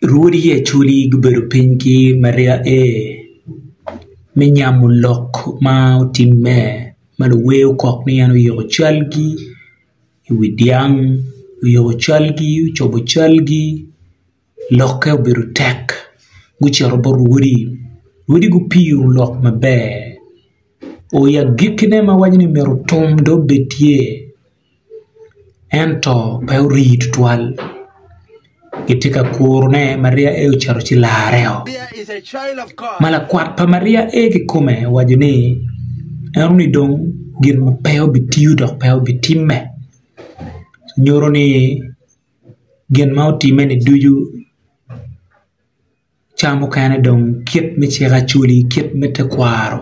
Rwodi Yaculi gubedo piny ki Maria A. me nyamo lok ma otimme ma luwer okok ni en oyiko calgi i wi dyang, oyiko calgi, ocobo calgi lokke obedo tek gucito bot rwodi, rwodi gupiyo lok maber o i agikkine ma waco ni myero otum dong obed tye. ento pe orii tutwal kitye ka kuro ne Maria ee ocito ci larre oo ma lakwat pa Maria ee kikome owaco ni en ni dong gin ma pe obitiyo dok pe obitimme nyuto ni gin ma otime ni ducu Caa mukene dong kit me cik acholi kit me tekwaro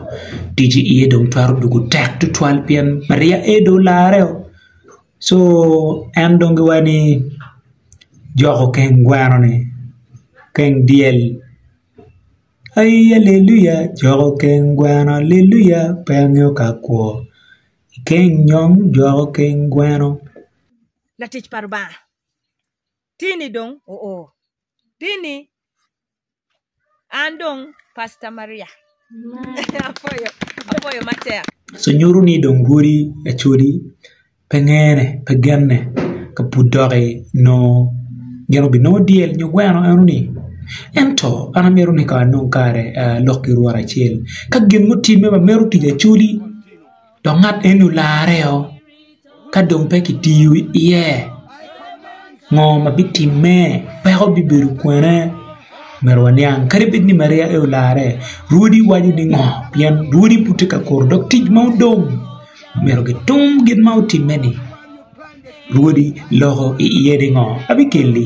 tici iye dong twero dwogo tek tutwal pien maria aye dong olarreo co en dong giwaco ni joko keng gweno ni keng dyel aii aleluya joko keng gweno aleluya pe angeyo ka akwo ikeng nyom joko keng gweno. Tini dong oo. Tini an dong Pastor Maria. Apwoyo, apwoyo matek. So nyuto ni dong rwodi Acholi pe ngene, pe genne ka pud doki nongo gin obinongo dyel nyo gweno eno ni. Ento an amito ni kong anong kare alok ki rwot acel ka gin mutimme ma mito tic Acholi. dok ngat eni olarre o ka dong pe kitiyo iye ngo ma bitimme peko bibedo kwene myero waniang kadi bed ni Maria aye olarre rwodi waco ni ngo pien rwodi pud tye ka kuru dok tic ma odong myero gitum gin ma otimme ni rwodi loko iye ni ngo ma bikeli.